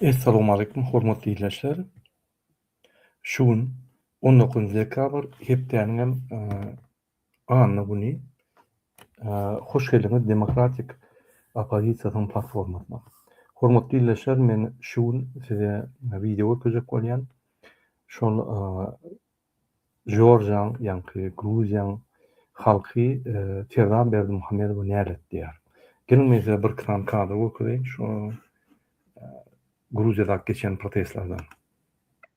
Essalamualeýkum hormatly ildeşler. Şu gün on dokuzynjy dekabr hepdäniňem Anna güni Hoş geldiňiz Demokratik oppozisiýasynyň platformasyna. Hormatly ildeşler, men şu gün size wideo görkezjek bolýan. Şol Jorjiýaň, ýaňky Gruziýaň halky Ferdan Berdimuhamedowa näletdirýär. Geliň men size birki sany kadr görkezeýin şu Gruziýadaky geçen protestlerden.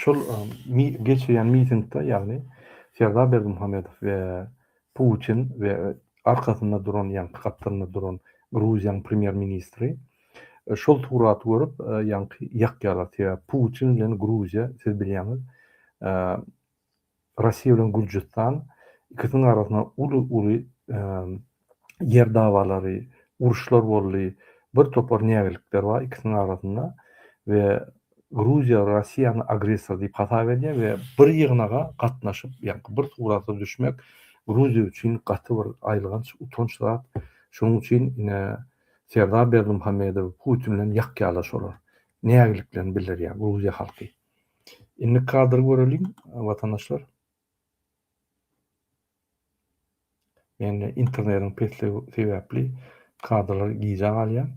Şol geçirýän mitingde, ýagny Serdar Berdimuhamedow we Putin we arkasynda duran, ýagny kapdalynda duran Gruziýanyň premýer-ministri şol suraty görüp, ýagny ýakýarlar. Sebäbi Putin bilen Gruziýa, siz bilýäňiz, Russiýa bilen Gürjüstan ikisiniň arasynda uly-uly ýer dawalary, uruşlar boldy. Bir topar nägilikler bar ikisiniň arasynda we Gruziýa Russiýany agressor diýip hasap edýär we bir ýygnaga gatnaşyp, ýagny bir surata düşmek Gruziýa üçin gaty bir aýylganç, utanç zat. Şonuň üçin ine Serdar Berdimuhamedow Putin bilen ýakýalaşylar. Nägiliklerini bildirýär Gruziýa halky. Indi kadr göreliň watandaşlar. Men internetiň pesligi sebäpli kadrlar gijä galýar.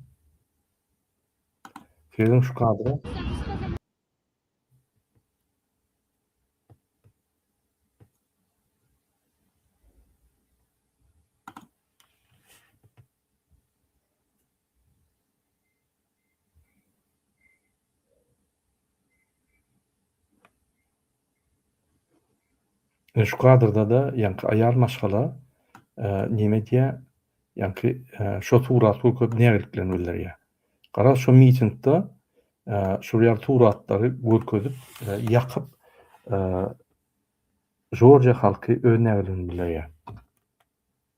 Sezin şu kadra. Ine şu kadrda-da ýaňky aýal maşgala näme edýär? Ýaňky şo surat bu köp nägiliklerini bildirýär. Garaz şo mitingde şol ýaly suratlary görkezip, ýakyp Jorjiýa halky öz nägiligini bildirýär.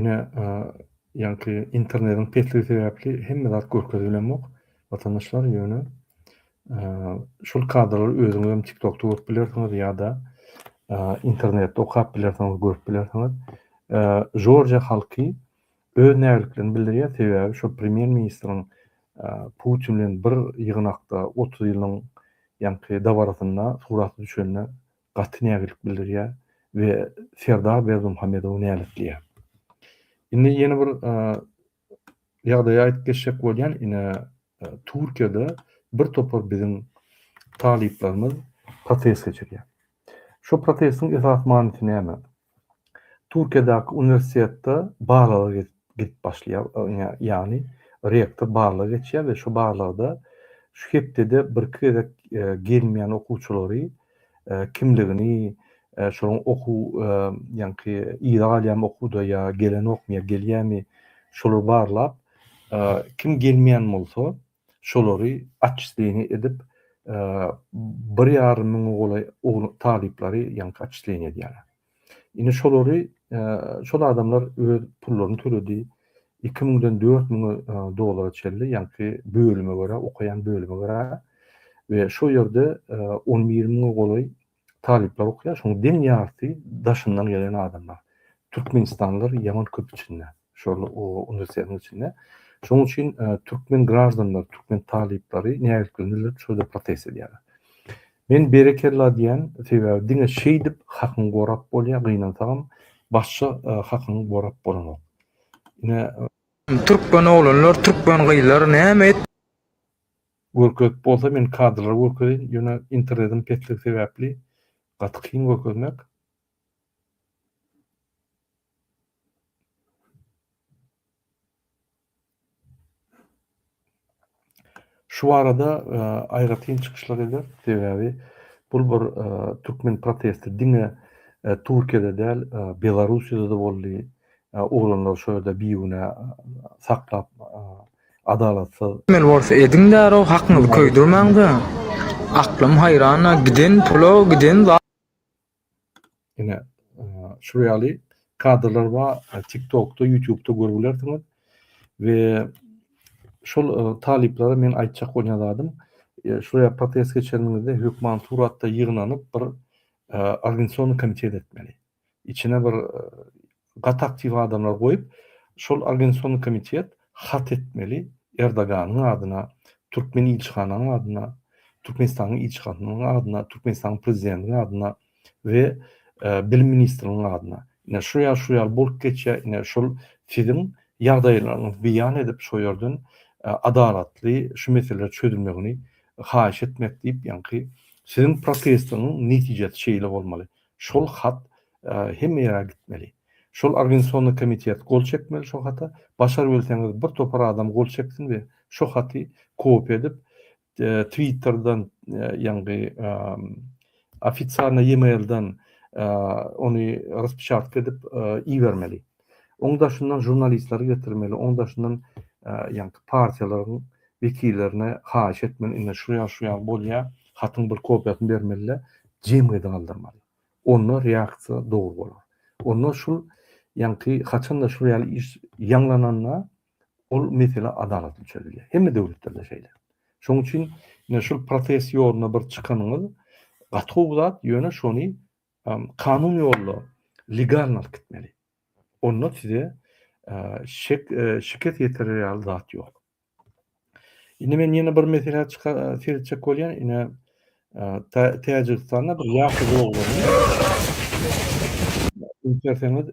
Ine, ýaňky internediň pesligi sebäpli hemme zat görkezilemok, watandaşlar, ýöne şol kadralary özüňizem tiktokda görüp bilersiňiz ýa-da internetde okap bilersiňiz, görüp bilersiňiz. Jorja halky öz nägiliklerini bildirýär, sebäbi şol premýer-ministriň Putin bilen bir ýygnakda otuz ýylyň ýaňky dabarasynda suraty düşenine gaty nägilik bildirýär we Serdar Berdimuhamedowy näletleýär. Indi ýene bir ýagdaýy aýdyp geçjek bolýan, ine Türkiýede bir topar biziň talyplarymyz protest geçirýär. Şu protestiň esas manysy näme? Türkiýedäki uniwersitetde barlaga gidip gidip başlaýar, ýagny rektor barlaga geçýär we şu barlagda şu hepdede birki gezek gelmeýän okuwçylary kimligini, şolaryň okuw ýaňky yza galýamy okuwda ýa gelenokmy ýa gelýämi şolary barlap kim gelmeýän bolsa Şolary atçisleniýa edip, bir ýarym müňe golaý oglan talyplary ýaňky atçisleniýa edýärler. Indi şolary, şol adamlar öz pullaryny töledi. Iki müňden dört müň dollara çenli, ýaňky bölüme görä, okaýan bölüme görä we şo ýerde on bir müňe golaý Talyplar okaýar, şoň deň ýarysy daşyndan gelen adamlar. Türkmenistanlylar ýaman köp içinde, şol uniwersitetiň içinde. Şoň üçin türkmen graždanlary, türkmen talyplary nägilikli nirde şurda protest edýärler. Men berekella diýýän, sebäbi diňe şeýdip hakyňy gorap bolýar, gynansagam başga hakyňy gorap bolanok. Ine, türkmen oglanlar, türkmen gyzlar näme et. Görkezip bolsa men kadrlary görkezeýin ýöne internetiň pesligi sebäpli gaty kyn görkezmek. Şu barada aýratyn çykyşlar eder sebäbi bul bir türkmen protesti diňe Türkiýede däl Belarusiýada-da boldy. Oglanlar şo ýerde bigünä saklap Adalatsyz. Emel bolsa ediň däroo hakyňyzy köýdürmäň de. Aklym haýrana giden pula giden za. Ine şul ýaly kadrlar ba tik tokda ýutubda görüp bilersiňiz we şol talyplara men aýtjak bolýan zadym şul ýa protest geçenimizde hökman suratda ýygnanyp bir organisasion komitet etmeli. içine bir gaty aktiw adamlar goýup şol Organizasiýony komitet hat etmeli Erdoganyň adyna Türkmen ilçihananyň adyna Türkmenistanyň ilçihananyň adyna Türkmenistanyň prezidentiniň adyna we bilim ministriniň adyna ine şu ýaly şu ýaly bolup geçýär ine şol siziň ýagdaýlaryňyzy beýan edip şo ýerden adalatly şu meseleler çözülmegini haýyş etmek diýip ýaňky siziň protestiňiň netijesi şeýle bolmaly Şol hat hemme ýere gitmeli. Şol organisasyony komitet gol çekmeli şo hata. Başar bilseňiz bir topar adam gol çeksin we şo haty kopiýa edip twitterden ýaňky ofitsialna ýemailden ony raspişartka edip ibermeli. Oň daşyndan žurnalistleri getirmeli, oň daşyndan ýaňky partiýalaryň wekillerine haýyş etmeli, indi şu ýaly şu ýaly bolýar, hatyň bir kopiýasyny bermeli-de, jemgyýete galdyrmaly. Onda reaksiýa dogry bolar. Onda şul ýaňky haçanda şul ýaly iş ýaňlananda ol mesele adalatly çözülýär. Hemme döwletlerde şeýle. Şoň üçin ine şul protest ýoluna bir çykanyňyz gaty gowy zat, ýöne şony Kanun ýolla legalny alyp gitmeli. Onda size şikes ýetirer ýaly zat ýok. Indi men ýene bir meselä seretjek bolýan, ine Täjigistanda bir ýaşuly oglany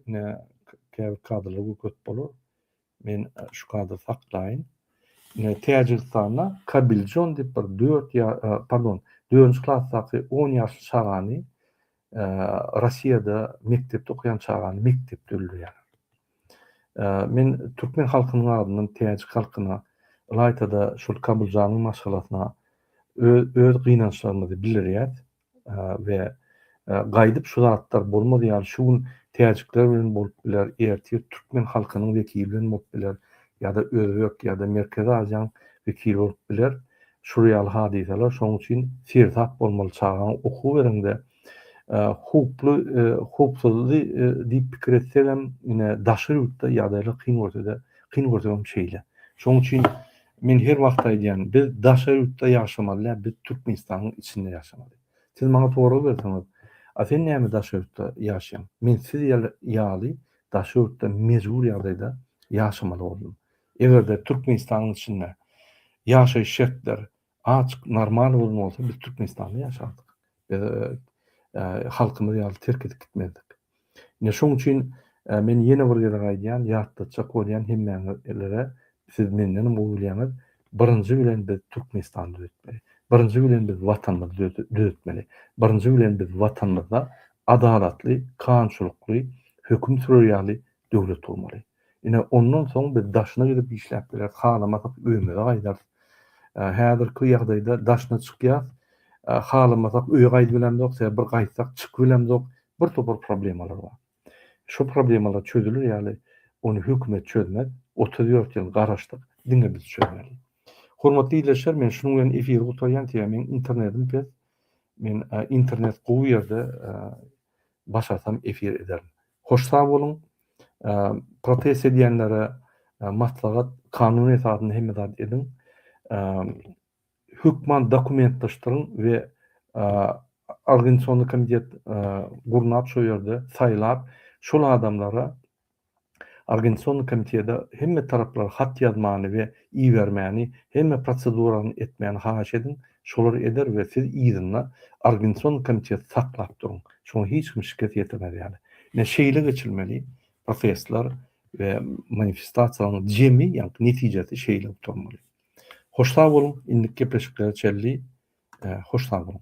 ine käbir kadrlar görkezip bolar. Men şu kadry saklaýyn. Ine Täjigistanda Kabiljon diýip bir 4 ýa pardon, 4-nji klasdaky 10 ýaşly çagany Russiýada mekdepde okaýan çagany mekdepde öldürýärler. Men türkmen halkynyň adyndan täjik halkyna ylaýta-da şol Kabiljanyň maşgalasyna öz gynançlarymyzy bildirýäs. we gaýdyp şu zatlar bolmaz ýaly şu gün täjikler bilen bolup biler ertir türkmen halkynyň wekili bilen bolup biler ýa-da özbek ýa-da merkezi aziýaň wekili bolup biler şul ýaly hadysalar şoň üçin seresap bolmaly çagaňa okuw bereňde howply howpsuzdy diýip pikir etsegem ine daşary ýurtda ýagdaýlar kyn görse-de kyn görsegem şeýle şoň üçin Men her wagt aýdýan, biz daşary ýurtda ýaşamaly däl, biz Türkmenistanyň içinde ýaşamaly. Siz maňa sorag berseňiz, a sen näme daşary ýurtda ýaşaýaň? Men siz ýaly daşary ýurtda mejbur ýagdaýda ýaşamaly boldum. Egerde Türkmenistanyň içinde ýaşaýyş şertler azyk normal bolan bolsa biz Türkmenistanda ýaşardyk. Biz halkymyz ýaly terk edip gitmezdik. Ine şoň üçin men ýene bir gezek aýdýan, ýatlatjak bolýan hemmäňizlere, siz mendenem gowy bilýäňiz, birinji bilen biz Türkmenistany düzetmeli. Birinji bilen biz Watanymyzy düzetmeli. Birinji bilen biz Watanymyzda adalatly, kanunçylykly höküm sürer ýaly Döwlet bolmaly. Ine, ondan soň biz daşyna gidip işläp bileris, halamasak öýümize gaýdarys. Häzirki ýagdaýda daşyna çykýas, halamasak öýe gaýdyp bilemzok, sebäbi bir gaýtsak çykyp bilemzok, bir topar problemalar bar. Şu problemalar çözüler ýaly, ony hökümet çözmez, otuz dört ýyl garaşdyk, diňe biz çözmeli. Hormatly ildeşler, men şunuň bilen efiri gutarýan, sebäbi meniň internetim pes, men internet gowy ýerde başarsam efir ederin. Hoş sag boluň. Protest edýänlere maslahat kanun esasynda hemme zat ediň. Hökman dokumentleşdiriň we organisasionny komitet gurnap şo ýerde saýlap şol adamlara organisasionny komitede hemme taraplara hat ýazmany we ibermäni hemme prosedurany etmäni haýyş ediň. Şolary eder we siz yzynda Argenson komiteti saklap duruň. Şoňa hiç kim şikes ýetirmez ýaly. Ine şeýle geçilmeli protestler we manifestasiýalaryň jemi ýaňky netijesi şeýle gutarmaly. Hoş sag boluň, indiki gepleşiklere çenli hoş sag boluň.